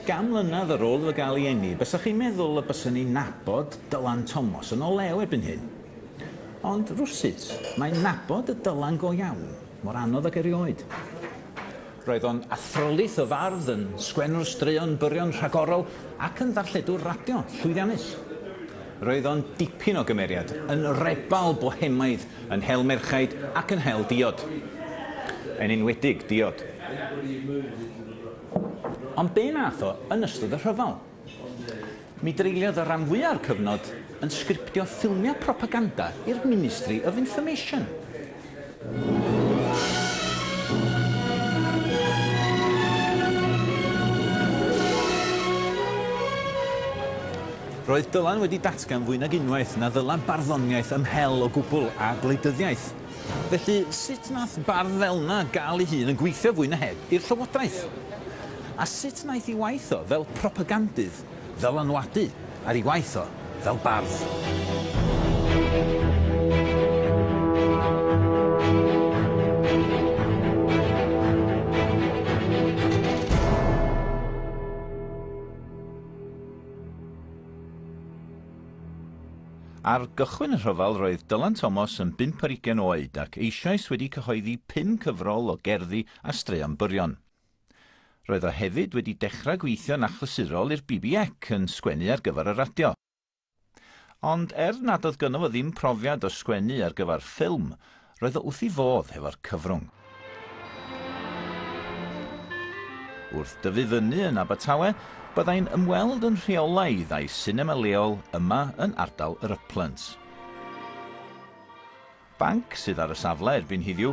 Gan mlynedd ar ôl iddo gael ei eni, bysach chi'n meddwl y byswn i'n nabod Dylan Tomos yn o lew erbyn hyn. Ond rywsut, mae'n nabod y Dylan go iawn, mor anodd ag erioed. Roedd o'n athrylith o fardd, yn sgwennwr straeon byrion rhagorol ac yn ddarlledwr radio llwyddiannus. Roedd o'n dipyn o gymeriad, yn rebal bohemaidd, yn hel merchaid ac yn hel diod. Yn enwedig diod. Ond be' nath o yn ystod y rhyfel? Mi dreuliodd y rhan fwya o'r cyfnod yn sgriptio ffilmia propaganda i'r Ministry of Information. Roedd Dylan wedi datgan fwy nag unwaith na ddyla barddoniaeth ymhel o gwbl â gwleidyddiaeth. Felly, sut nath bardd fel'na ga'l 'i hun yn gweithio fwy na heb i'r Llywodraeth? A sut naeth 'i waith o fel propagandydd ddylanwadu ar 'i waith o fel bardd? Ar gychwyn y rhyfel roedd Dylan Thomas yn bump ar ugain oed ac eisoes wedi cyhoeddi pum cyfrol o gerddi a straeon byrion. Roedd o hefyd wedi dechrau gweithio'n achlysurol i'r BBEC, yn sgwennu ar gyfer y radio. Ond er nad oedd gynno fo ddim profiad o sgwennu ar gyfer ffilm, Roedd o wrth 'i fodd hefo'r cyfrwng. Wrth dyfu fyny yn Abertawe, byddai'n ymweld yn rheolaidd â'i sinema leol yma yn ardal yr Uplands. Banc sydd ar y safle erbyn hiddiw,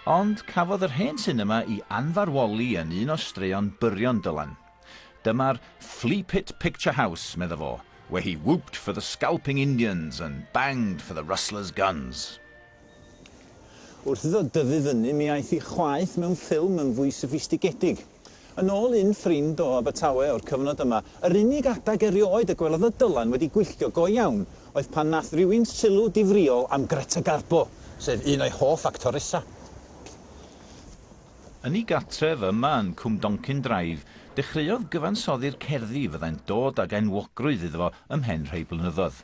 ond cafodd yr hen sinema 'i anfarwoli yn un o straeon byrion Dylan. Dyma'r Flea Pit Picture House, medda fo, where he whooped for the scalping Indians and banged for the rustlers' guns. Wrth iddo dyfu fyny, mi aeth i chwaeth mewn ffilm yn fwy soffistigedig. Yn ôl un ffrind o Abertawe o'r cyfnod yma, yr unig adag erioed y gwelodd y Dylan wedi gwylltio go iawn oedd pan nath rywun sylw difrïol am Greta Garbo, sef un o'i hoff actoresa. Yn ei gartref yma yn Cwmdoncyn Drive, dechreuodd gyfansoddi'r cerddi fyddai'n dod ag enwogrwydd iddo fo ymhen rhai blynyddoedd.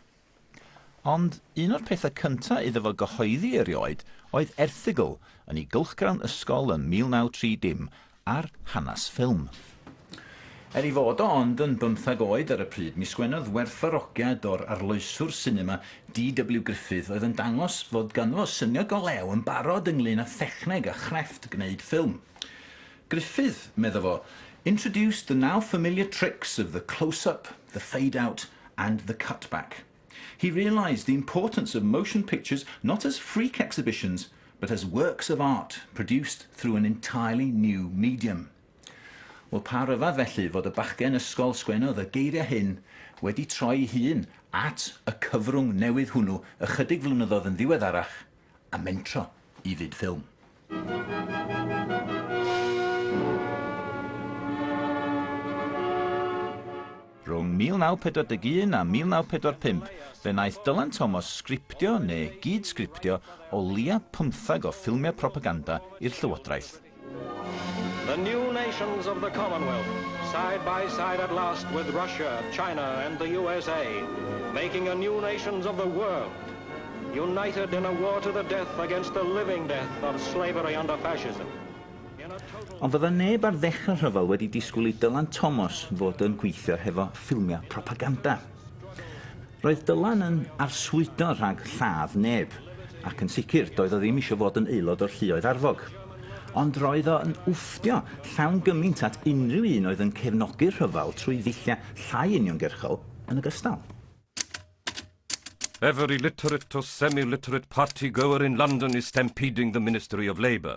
Ond un o'r pethau cynta' iddo fo gyhoeddi erioed oedd erthygl yn ei gylchgrawn ysgol ym 1930 ar hanes ffilm. Er ei fod o ond yn bymthag oed ar y pryd, mi sgwennodd werthfawrogiad o'r arloeswr sinema DW Griffith oedd yn dangos fod ganddo syniad go lew yn barod ynglŷn â thechneg a chrefft gwneud ffilm. Griffith, medda fo, introduced the now familiar tricks of the close-up, the fade-out and the cut-back. He realised the importance of motion pictures not as freak exhibitions but as works of art produced through an entirely new medium. Wel, pa ryfedd felly fod y bachgen ysgol sgwennodd y geiriau hyn wedi troi'i hun at y cyfrwng newydd hwnnw ychydig flynyddoedd yn ddiweddarach a mentro i fyd ffilm. Rhwng 1941 a 1945, fe wnaeth Dylan Thomas sgriptio neu gyd-sgriptio o leiaf pymtheg o ffilmiau propaganda i'r llywodraeth. The new nations of the Commonwealth, side by side at last with Russia, China and the USA, making a new nations of the world, united in a war to the death against the living death of slavery under fascism. Ond fydda neb ar ddechrau rhyfel wedi disgwyl i Dylan Thomas fod yn gweithio hefo ffilmiau propaganda. Roedd Dylan yn arswydo rhag lladd neb, ac yn sicr doedd o ddim isio fod yn aelod o'r lluoedd arfog. Ond roedd o yn wfftio llawn gymint at unrhyw un oedd yn cefnogi'r rhyfel trwy ddulliau llai uniongyrchol yn ogystal. Every literate or semi-literate party goer in London is stampeding the Ministry of Labour.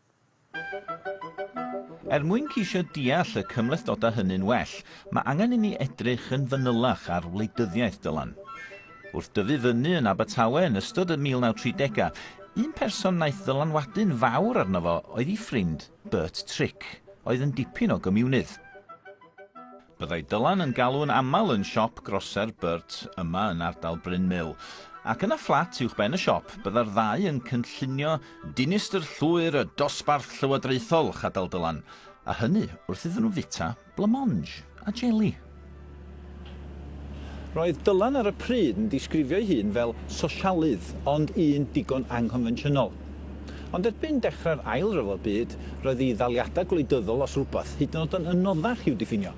Er mwyn ceisio deall y cymhlethdodau hynny'n well, mae angen inni edrych yn fanylach ar wleidyddiaeth Dylan. Wrth dyfu fyny yn Abertawe yn ystod y 1930au, un person wnaeth ddylanwadu'n fawr arno fo oedd ei ffrind, Bert Trick, oedd yn dipyn o gymiwnydd. Byddai Dylan yn galw'n aml yn siop groser Burt yma yn ardal Bryn Mill, ac yna fflat uwchben y siop bydda'r ddau yn cynllunio dinistr llwyr y dosbarth llywodraethol, chadal Dylan, a hynny wrth iddyn nhw fwyta blamonge a jeli. Roedd Dylan ar y pryd yn disgrifio'i hun fel sosialydd, ond un digon anghonfensiynol. Ond erbyn dechrau'r Ail Ryfel Byd, roedd ei ddaliadau gwleidyddol, os rhywbeth, hyd yn oed yn anoddach i'w diffinio.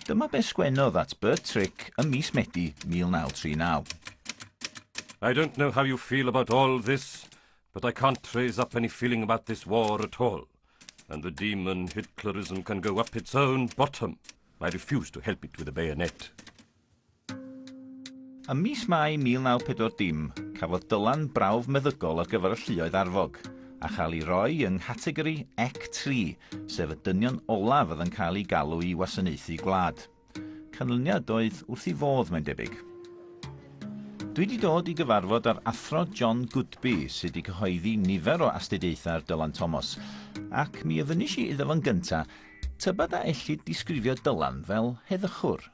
Dyma be sgwennodd at Bert Trick ym mis Medi 1939. I don't know how you feel about all this, but I can't trace up any feeling about this war at all, and the demon Hitlerism can go up its own bottom, I refuse to help it with a bayonet. Ym mis Mai 1940, cafodd Dylan brawf meddygol ar gyfer y lluoedd arfog, a chael ei roi yng nghategori EC3, sef y dynion olaf oedd yn cael eu galw i wasanaethu gwlad. Canlyniad oedd wrth i fodd, mae'n debyg. Dwi wedi dod i gyfarfod â'r Athro John Goodby, sydd wedi cyhoeddi nifer o astudiaethau ar Dylan Thomas, ac mi ofynis i iddo fo'n gyntaf, tybed a ellid disgrifio Dylan fel heddychwr?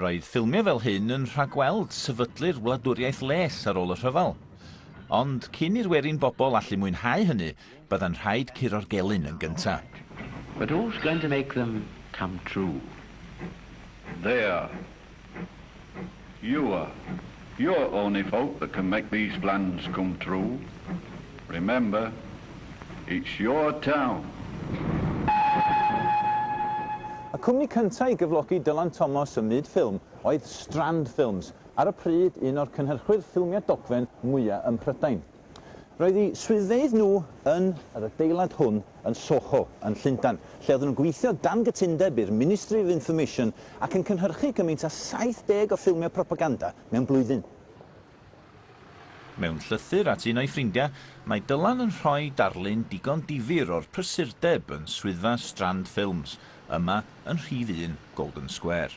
Roedd ffilmio fel hyn yn rhagweld sefydlu'r wladwriaeth les ar ôl y rhyfel. Ond cyn i'r werin bobl allu mwynhau hynny, bydda'n rhaid curo'r gelyn yn gyntaf. But who's going to make them come true? There. You are. You're the only folk that can make these plans come true. Remember, it's your town. Y cwmni cyntaf i gyflogi Dylan Thomas ym myd ffilm oedd Strand Films, ar y pryd un o'r cynhyrchwyr ffilmiau dogfen mwyaf ym Mhrydain. Roedd eu swyddfeydd nhw yn yr adeilad hwn yn Soho, yn Llundain, lle oedden nhw'n gweithio dan gytundeb i'r Ministry of Information ac yn cynhyrchu cymaint â 70 o ffilmiau propaganda mewn blwyddyn. Mewn llythyr at un o'i ffrindiau, mae Dylan yn rhoi darlun digon difyr o'r prysurdeb yn swyddfa Strand Films, yma yn rhif un Golden Square.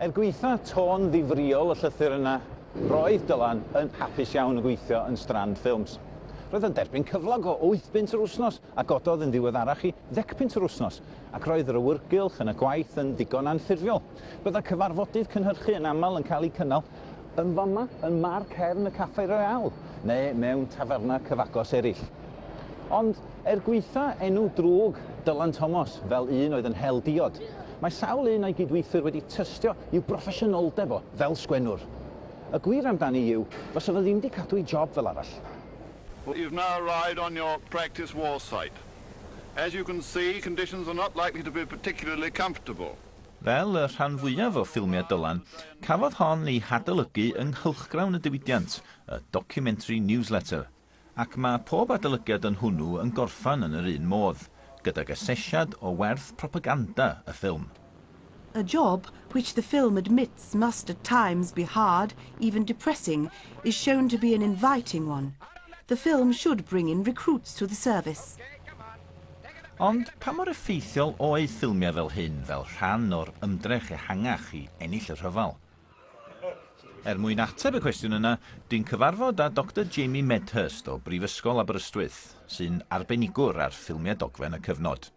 Er gwaetha' tôn ddifrïol y llythyr yna, roedd Dylan yn hapus iawn yn gweithio yn Strand Ffilms. Roedd o'n derbyn cyflog o wyth bunt yr wythnos a gododd yn ddiweddarach i ddecpunt yr wythnos, ac roedd yr awyrgylch yn y gwaith yn ddigon anffurfiol. Bydda cyfarfodydd cynhyrchu yn aml yn cael eu cynnal yn fama yn mâr cefn y Café Royale neu mewn taferna cyfagos eraill. Ond, er gwaetha enw drwg Dylan Thomas fel un oedd yn hel diod, mae sawl un a'i gydweithwyr wedi tystio i'w broffesiynoldeb o fel sgwennwr. Y gwir amdani yw, fasa fo ddim 'di cadw ei job fel arall. You've now arrived on your practice war site. As you can see, conditions are not likely to be particularly comfortable. Fel y rhan fwyaf o ffilmiau Dylan, cafodd hon ei hadolygu yng nghylchgrawn y diwydiant, y Documentary Newsletter. Ac mae pob adolygiad yn hwnnw yn gorffan yn yr un modd, gydag asesiad o werth propaganda y ffilm. A job which the film admits must at times be hard, even depressing, is shown to be an inviting one. The film should bring in recruits to the service. Ond pa mor effeithiol oedd ffilmiau fel hyn fel rhan o'r ymdrech ehangach i ennill y rhyfel? Er mwyn ateb y cwestiwn yna, dwi'n cyfarfod â Doctor Jamie Medhurst o Brifysgol Aberystwyth, sy'n arbenigwr ar ffilmiau dogfen y cyfnod.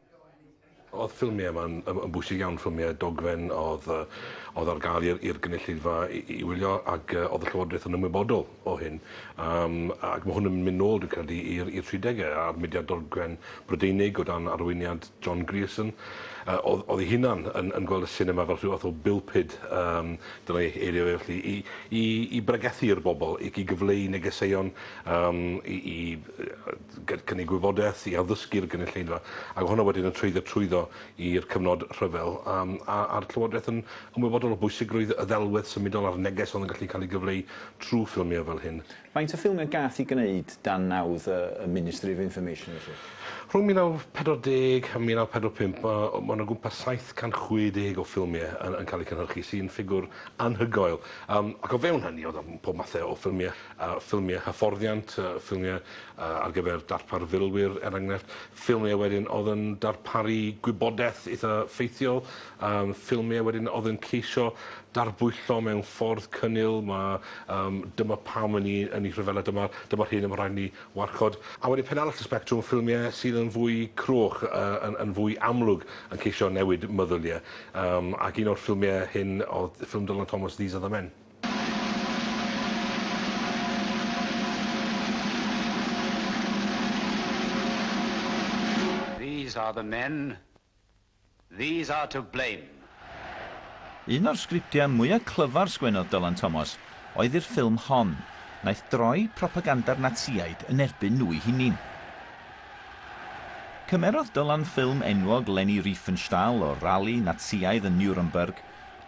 Oedd ffilmiau yma'n yn bwysig iawn, ffilmiau dogfen oedd oedd ar gael i'r i'r gynulleidfa i i wylio ac oedd y Llywodraeth yn ymwybodol o hyn. Yym ac mae hwn yn mynd nôl dwi'n credu i'r i'r tridegau a'r mudiad dogfen Brydeinig o dan arweiniad John Grierson, yy, oedd, oedd ei hunan yn, yn gweld y sinema fel rhyw fath o bulpud, um, dyna ei eirio fe felly, i, i, i bregethu i'r bobl, i, i gyfleu negeseuon, um, i, i gynnig gwybodaeth, i addysgu'r gynulleidfa, ac hwnna wedyn yn treiddio trwyddo i'r cyfnod rhyfel, um, a, a'r Llywodraeth yn ymwybodol o bwysigrwydd y ddelwedd symudol a'r neges oedd yn gallu cael ei gyfleu trwy ffilmiau fel hyn. Faint o ffilmiau gath i gwneud dan nawdd y Ministry of Information felly? Rhwng 1940 a 1945 ma' mond o gwmpas 760 o ffilmie yn yn ca'l eu cynhyrchu sy'n ffigwr anhygoel. Yym ac o fewn hynny o'dd yym pob mathe o ffilmie yy ffilmie hyfforddiant yy ffilmie yy ar gyfer darpar filwyr er enghraifft ffilmie wedyn o'dd yn darparu gwybodeth itha ffeithiol Am ffilmiau wedyn oedd yn ceisio darbwyllo mewn ffordd cynnil, ma' yym dyma pam ŷn ni yn ei rhyfela, dyma dyma'r hyn y ma' rhaid i ni warchod. A wedyn pen arall y sbectrwm, ffilmiau sydd yn fwy cruwch, yy yn yn fwy amlwg yn ceisio newid meddyliau. Yym ac un o'r ffilmiau hyn oedd ffilm Dylan Thomas, These Are The Men. These are the men. These are to blame. Un o'r sgriptiau mwya clyfar sgwennodd Dylan Thomas oedd i'r ffilm hon. Wnaeth droi propaganda'r Natsïaid yn erbyn nhw'i hunin. Cymerodd Dylan ffilm enwog Leni Riefenstahl o'r rali Natsïaidd yn Nuremberg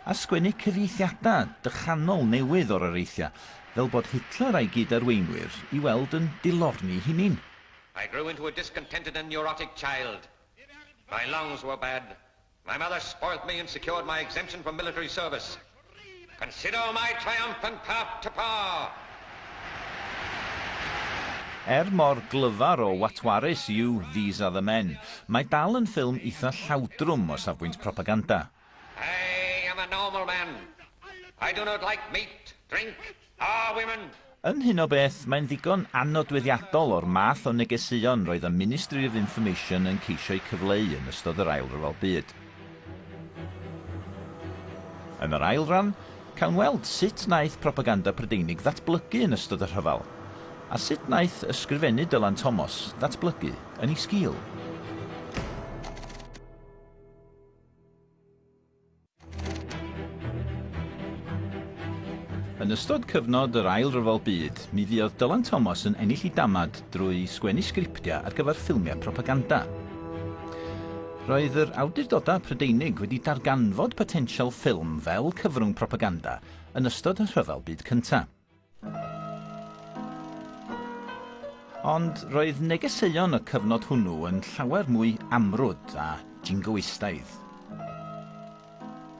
a sgwennu cyfieithiadau dychanol newydd o'r areithiau fel bod Hitler a'i gyd-arweinwyr i weld yn dilorni'i hunin. I grew into a discontented and neurotic child. My lungs were bad. My mother spoilt me and secured my exemption from military service. Consider my triumphant path to power! Er mor glyfar o watwarus yw These Are The Men, mae dal yn ffilm eitha llawdrwm o safbwynt propaganda. I am a normal man. I do not like meat, drink, Our women! Yn hyn o beth, mae'n ddigon annodweddiadol o'r math o negeseuon roedd y Ministry of Information yn ceisio'u cyfleu yn ystod yr Ail Ryfel Byd. Yn yr ail ran, cawn weld sut wnaeth propaganda Prydeinig ddatblygu yn ystod y rhyfel, a sut wnaeth Ysgrifennu Dylan Thomas ddatblygu yn ei sgil. Yn ystod cyfnod yr Ail Ryfel Byd, mi fuodd Dylan Thomas yn ennill ei damad drwy sgwennu sgriptiau ar gyfer ffilmiau propaganda. Roedd yr awdurdodau Prydeinig wedi darganfod potensial ffilm fel cyfrwng propaganda yn ystod y Rhyfel Byd Cyntaf. Ond roedd negeseuon y cyfnod hwnnw yn llawer mwy amrwd a jingoistaidd.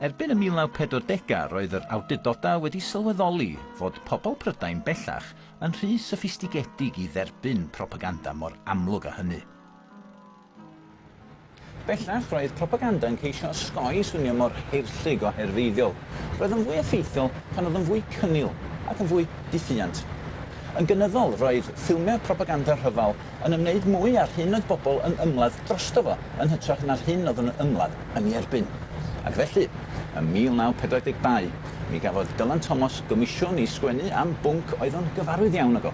Erbyn y 1940au roedd yr awdurdodau wedi sylweddoli fod pobl Prydain bellach yn rhy soffistigedig i dderbyn propaganda mor amlwg â hynny. Bellach, roedd propaganda yn ceisio osgoi swnio mor heirllug o herfeiddiol. Roedd o'n fwy effeithiol pan oedd o'n fwy cynnil ac yn fwy diffuant. Yn gynyddol, roedd ffilmiau propaganda rhyfel yn ymwneud mwy â'r hyn oedd bobl yn ymladd drosto fo yn hytrach na'r hyn oedd yn ymladd yn ei erbyn. Ac felly, ym 1942, mi gafodd Dylan Thomas gomisiwn i sgwennu am bwnc oedd o'n gyfarwydd iawn ag o.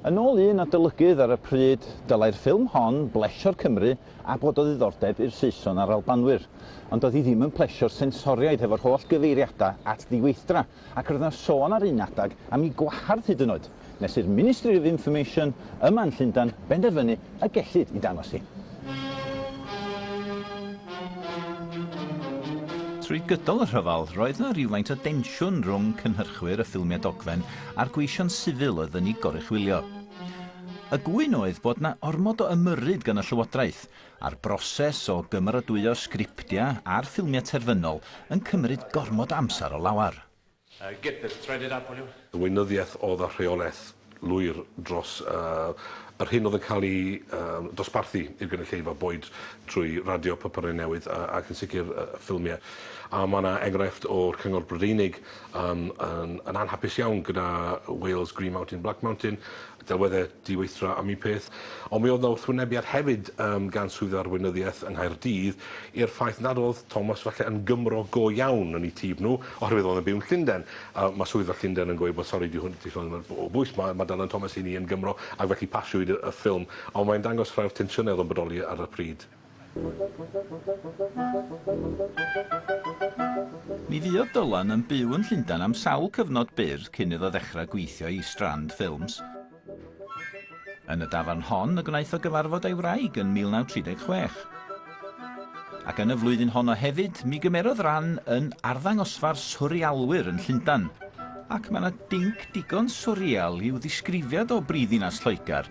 Yn ôl un adolygydd ar y pryd, dylai'r ffilm hon blesio'r Cymry a bod o ddiddordeb i'r Saeson a'r Albanwyr, ond doedd hi ddim yn plesio'r sensoriaid hefo'r holl gyfeiriadau at ddiweithdra, ac roedd 'na sôn ar un adeg am ei gwahardd hyd yn oed, nes i'r Ministry of Information yma yn Llundain benderfynu y gellid ei dangos hi. Trwy gydol y rhyfel, roedd 'na rywfaint o densiwn rhwng cynhyrchwyr y ffilmiau dogfen a'r gweision sifil oedd yn ei goruchwylio. Y gŵyn oedd bod 'na ormod o ymyrryd gan y Llywodraeth, a'r broses o gymeradwyo sgriptia a'r ffilmia terfynol yn cymryd gormod o amser o lawar. Uh, get this threaded up, will you? Y weinyddiaeth oedd â rheolaeth lwyr dros uh, yr hyn oedd yn cael ei uh, dosbarthu i'r gynulleidfa, boed trwy radio, papurau newydd uh, ac yn sicr uh, ffilmiau. A mae yna enghraifft o'r Cyngor Brydeinig Yn, yn, yn anhapus iawn gyda Wales Green Mountain, Black Mountain, delweddau diweithdra am un peth, ond mi oedd yna wrthwynebiad hefyd um, gan Swydd Arweinyddiaeth yng Nghaerdydd i'r ffaith nad oedd Thomas falle yn Gymro go iawn yn ei tîf nhw, oherwydd oedd yn byw yn Llundain. A mae Swydd y Llundain yn gweud bod sori di hwn, di hwn o bwys, mae, mae Dylan Thomas i ni yn Gymro, ac felly pasiwyd y, y ffilm, ond mae'n dangos rhai'r tensiynau oedd yn bodoli ar y pryd. Mi fuodd Dylan yn byw yn Llundain am sawl cyfnod byr cyn iddo ddechrau gweithio i Strand Films. Yn y dafarn hon y gwnaeth o gyfarfod ei wraig yn 1936. Ac yn y flwyddyn honno hefyd, mi gymerodd ran yn arddangosfa'r Swrialwyr yn Llundain. Ac mae 'na dinc digon swrial i'w ddisgrifiad o brifddinas Lloegr,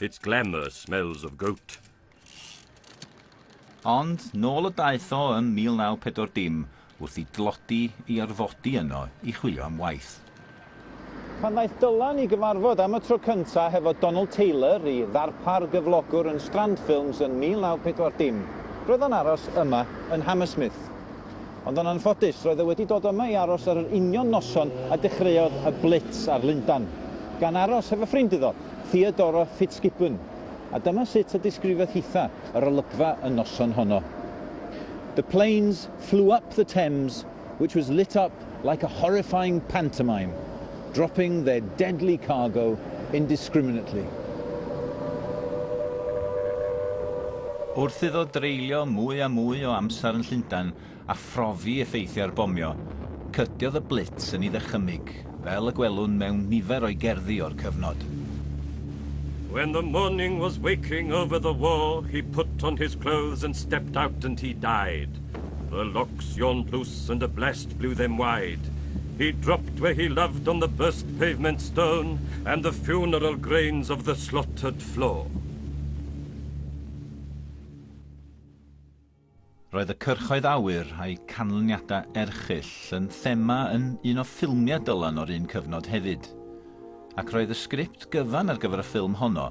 Its glamour smells of goat. Ond nôl y daeth o ym 1940 wrth i dlodi i orfodi yno i chwilio am waith. Pan ddaeth Dylan i gyfarfod am y tro cyntaf hefo Donald Taylor, ei ddarpar gyflogwr yn Strand Films yn 1940, roedd o'n aros yma yn Hammersmith. Ond yn anffodus, roedd e wedi dod yma i aros ar yr union noson a dechreuodd y blitz ar Lundan, gan aros hefo ffrind iddo, Theodora Fitzgibbon, a dyma sut y disgrifiodd hitha yr olygfa y noson honno, The planes flew up the Thames which was lit up like a horrifying pantomime. dropping their deadly cargo indiscriminately. Wrth iddo dreulio mwy a mwy o amser yn Llundain a phrofi effeithiau'r bomio, cydiodd y Blitz yn ei ddychymyg, fel y gwelwn mewn nifer o'i gerddi o'r cyfnod. When the morning was waking over the war, he put on his clothes and stepped out and he died. The locks yawned loose and a blast blew them wide. He dropped where he loved on the burst pavement stone and the funeral grains of the slaughtered floor. Roedd y cyrchoedd awyr a'i canlyniadau erchyll yn thema yn un o ffilmiau Dylan o'r un cyfnod hefyd. Ac roedd y sgript gyfan ar gyfer y ffilm honno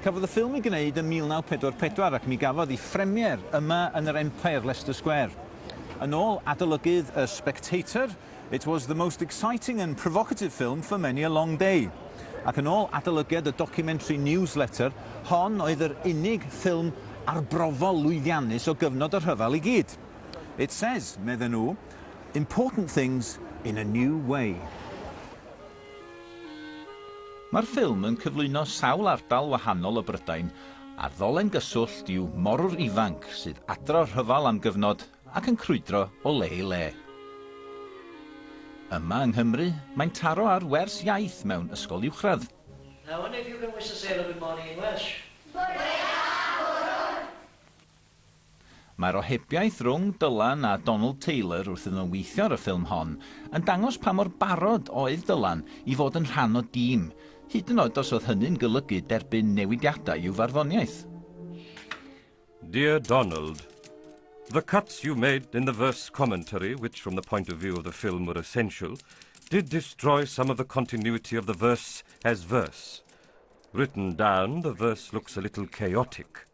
Cafodd y ffilm ei gwneud ym 1944 ac mi gafodd ei phremier yma yn yr Empire, Leicester Square. Yn ôl adolygydd y Spectator, It was the most exciting and provocative film for many a long day. Ac yn ôl adolygiad y documentary Newsletter, hon oedd yr unig ffilm arbrofol lwyddiannus o gyfnod y rhyfel i gyd. It says, medden nhw, important things in a new way. Mae'r ffilm yn cyflwyno sawl ardal wahanol o Brydain, a'r ddolen gyswllt yw morwr ifanc sydd adra o'r rhyfel am gyfnod ac yn crwydro o le i le. Yma yng Nghymru, mae'n taro ar wers iaith mewn ysgol uwchradd. Now and if you can wish a sailor good morning in Welsh. Bore da, morwr! Mae'r ohebiaeth rhwng Dylan a Donald Taylor wrth iddyn nhw weithio ar y ffilm hon yn dangos pa mor barod oedd Dylan i fod yn rhan o dîm, hyd yn oed os oedd hynny'n golygu derbyn newidiadau i'w farddoniaeth. Dear Donald, The cuts you made in the verse commentary, which from the point of view of the film were essential, did destroy some of the continuity of the verse as verse. Written down, the verse looks a little chaotic.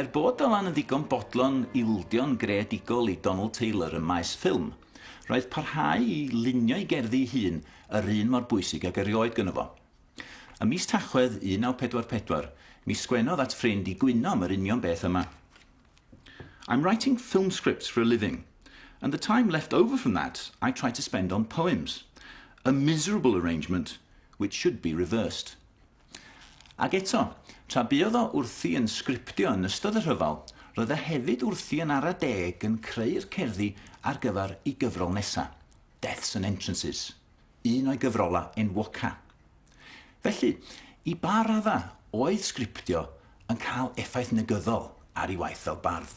Er bod Dylan yn ddigon bodlon ildio'n greadigol i Donald Taylor ym maes ffilm, roedd parhau i lunio'i gerddi ei hun yr un mor bwysig ag erioed gynno fo. Ym mis Tachwedd 1944, mi sgwennodd at ffrind i gwyno am yr union beth yma. I'm writing film scripts for a living, and the time left over from that I try to spend on poems. A miserable arrangement which should be reversed. Ac eto, tra buodd o wrthi yn sgriptio yn ystod y rhyfel, roedd e hefyd wrthi yn ara deg yn creu'r cerddi ar gyfer ei gyfrol nesa, Deaths and Entrances, un o'i gyfrolau enwoca. Felly, i ba raddau oedd sgriptio yn cael effaith negyddol ar ei waith fel bardd?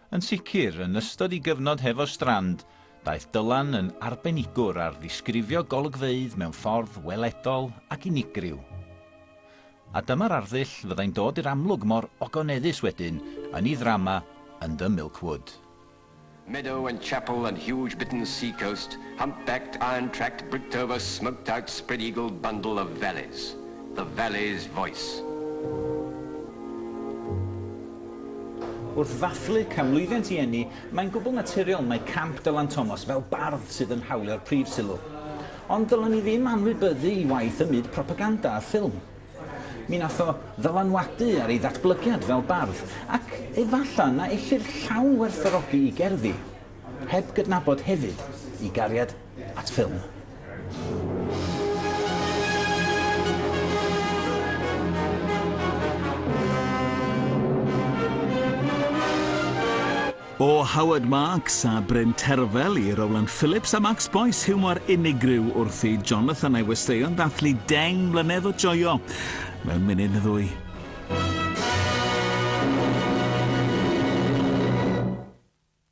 Yn sicr, yn ystod ei gyfnod hefo Strand, daeth Dylan yn arbenigwr ar ddisgrifio golygfeydd mewn ffordd weledol ac unigryw. A dyma'r arddull fyddai'n dod i'r amlwg mor ogoneddus wedyn yn ei ddrama yn The Milk Wood. Meadow and chapel and huge bitten sea coast, humpbacked, iron-tracked, bricked-over, smoked-out, spread-eagled bundle of valleys. The valley's voice. Wrth ddathlu canmlwyddiant i eni, mae'n gwbl naturiol mai Camp Dylan Thomas fel bardd sydd yn hawlio'r prif sylw. Ond ddylen ni ddim anwybyddu i waith ym myd propaganda a ffilm. Mi wnaeth o ddylanwadu ar ei ddatblygiad fel bardd, ac efallai na ellir llawn werthfawrogi i gerddi. Heb gydnabod hefyd ei gariad at ffilm. O Howard Marks a Bryn Terfel i Rowland Phillips a Max Boyce, hiwmor unigryw wrth i Jonathan a'i westeion ddathlu deng mlynedd o joio mewn munud neu ddwy.